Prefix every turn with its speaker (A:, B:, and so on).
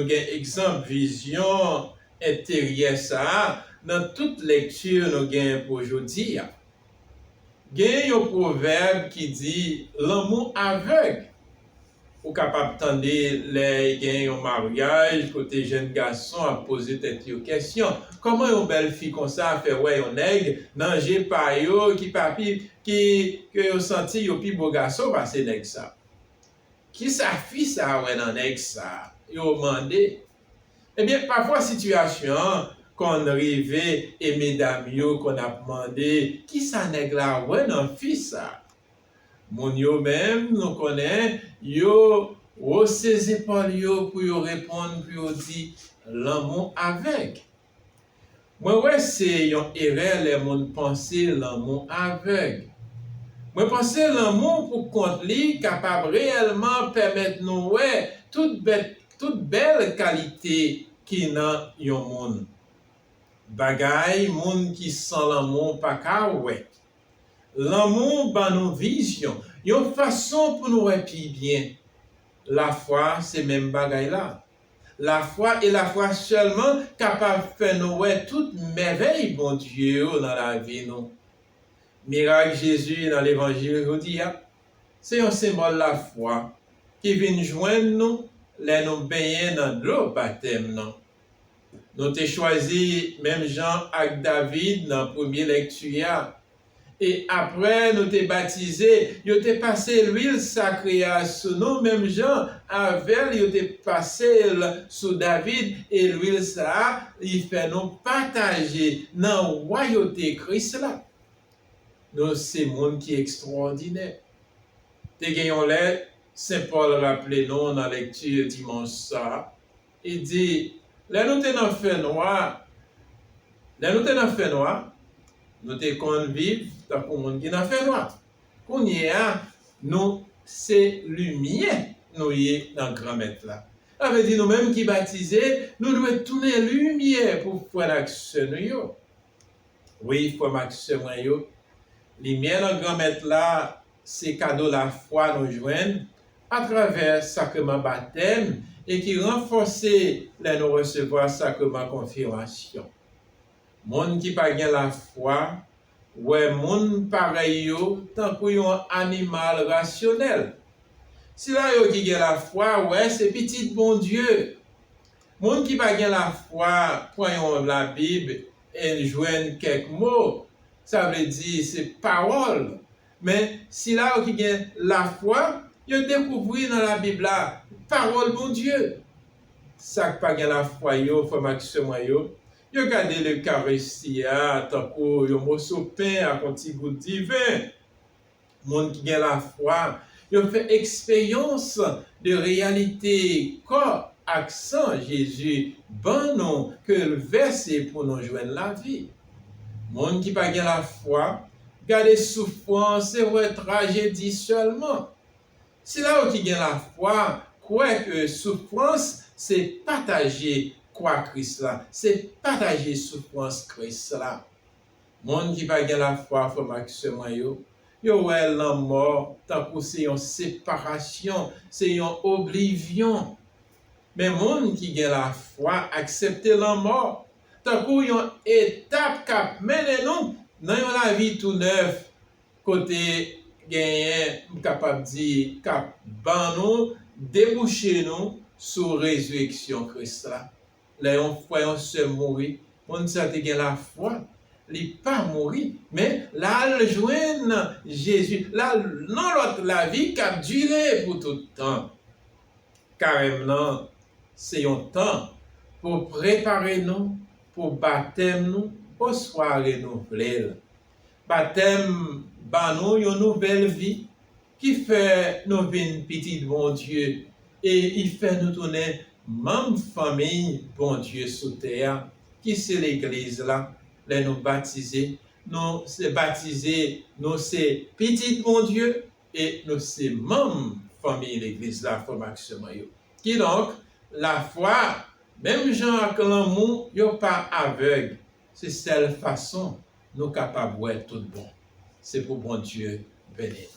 A: Nou gen egzanp vizyon enteryè sa a nan tout lekti nou gen pou jodi a. Gen yon pwovèb ki di lanmou avèg, Ou kapab tande lè gen yon maryaj kote jenn gason ap poze tèt yo kèsyon, Kòman yon bèl fi konsa fè wè yon nèg nan je pa yo ki pa pi ki ke yo santi yo pi bo gason pase nèg sa? Kisa fi sa wè nan nèg sa? yo mande. Ebyen, pafwa sitiyasyon an konn rive e medam yo konn ap mande, Kisa nèg la wè nan fi sa? Moun yo menm nou konnen yo wose zepòl yo pou yo reponn pou yo di lanmou avèg. Mwen wè se yon erè lè moun panse lanmou avèg. Mwen panse lanmou pou kont li kapab reyèlman pèmèt nou wè tout bèt tout bèl kalite ki nan yon moun. Bagay moun ki san lanmou pa ka wè. Lanmou ban nou vizyon, yon fason pou nou wè pi byen. Lafwa se menm bagay la. Lafwa e lafwa sèlman kapab fè nou wè tout mèvèy Bondye yo nan lavi nou. Mirak Jezi nan levanjil jodi a se yon senbòl lafwa ki vin jwenn nou lè nou benyen nan dlo batèm nan. Nou te chwazi, menm jan ak David nan premye lekti a, e apre nou te batize, yo te pase luil sakre a sou nou menm jan avè l yo te pase l sou David, e luil sa a li fè nou pataje nan wayote Kris la. Nou se moun ki ekstwòdinè. Te gen yon lè Sen Pòl raple nou nan lekti dimanch sa a, Li di, Lè nou te nan fènwa, lè nou te nan fènwa, nou te konn viv tankou moun ki nan fènwa. Kounye a, nou se limyè nou ye nan Granmèt la. Sa vle di nou menm ki batize, nou dwe tounen limyè pou frè n ak sè nou yo. Wi, frè m ak sè mwen yo, limyè nan Granmèt la se kado lafwa nou jwenn atravè sakreman batèm e ki ranfòse lè nou resevwa sakreman konfimasyon. Moun ki pa gen lafwa wè moun parèy yo tankou yon animal rasyonèl. Sila yo ki gen lafwa wè se pitit Bondye. Moun ki pa gen lafwa pran yon Labib e l jwenn kèk mo, sa vle di se pawòl, Men, sila yo ki gen lafwa, yo dekouvri nan Labib la, Pawòl Bondye. Sa k pa gen lafwa yo, frè m ak sè mwen yo, yo gade Lekaristi a tankou yon moso pen ak yon ti gout diven. Moun ki gen lafwa yo fè eksperyans de reyalite kò ak san Jezi ban nou ke l vèse pou nou jwenn lavi. Moun ki pa gen lafwa gade soufrans e wè trajedi sèlman. Sila yo ki gen lafwa kwè ke soufrans se pataje kwa Kris la, se pataje soufrans Kris la. Moun ki pa gen lafwa, frè m ak sè mwen yo, yo wè lanmò tankou se yon separasyon, se yon oblivyon. Men moun ki gen lafwa aksepte lanmò tankou yon etap k ap mennen nou nan yon lavi tou nèf kote genyen m kapab di k ap ban nou debouche nou sou rezireksyon Kris la. Lè yon frè yon sè mouri, moun sa te gen lafwa li pa mouri men l al jwenn Jezi, l al nan lòt lavi k ap dire pou tout tan. Karèm nan se yon tan pou prepare nou pou batèm nou oswa renouvle l. Batèm ban nou yon nouvèl vi ki fè nou vin pitit Bondye e li fè nou tounen manm fanmiy Bondye sou tè a ki se Legliz la. Lè nou batize, nou batize nou se pitit Bondye. E nou se manm fanmiy Legliz la, frè m ak sè mwen yo. Kidonk, lafwa, menm jan ak lanmou, yo pa avèg, se sèl fason nou kapab wè toutbon. Se pou Bondye beni nou.